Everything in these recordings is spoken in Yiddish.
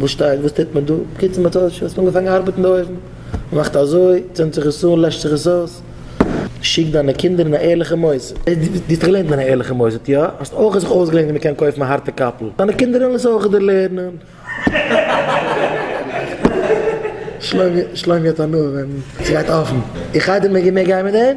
וואס שטייט? וואס טוט מען דא? בקיצור מ'האט אויס מ'האט אנגעפאנגען ארבעטן די אויוון. מ'מאכט אזוי, צינדט זיך עס אן, לעשט זיך עס אויס. שיק דיינע קינדער אין א ערליכע מוסד. דו האסט געלערנט אין א ערליכע מוסד, יא? האסט אויך זיך אויסגעלערנט ווי מ'קען קויפן א הארטע קאפל? דיינע קינדער וועלן עס אויך דערלערנען. שלומי האט הנאה ווען ס'גייט אפן. איך הייב די מעג איך מער גיין מיט דעם?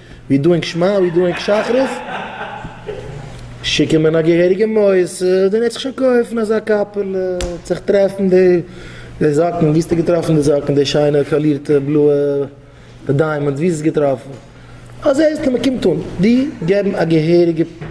ווי דואינג שמע ווי דואינג שחרית? שיקן מען א געהעריגע מוסד און ער העט זיך שוין קויפן אזא קאפעלע עט זיך טרעפן די זאקן ווי האסטו געטראפן די זאקן די שיינע קאלירטע בלויע די דיימאנדס ווי האסטו עס געטראפן אזוי הייסט מען קומט אן די געבן א געהעריגע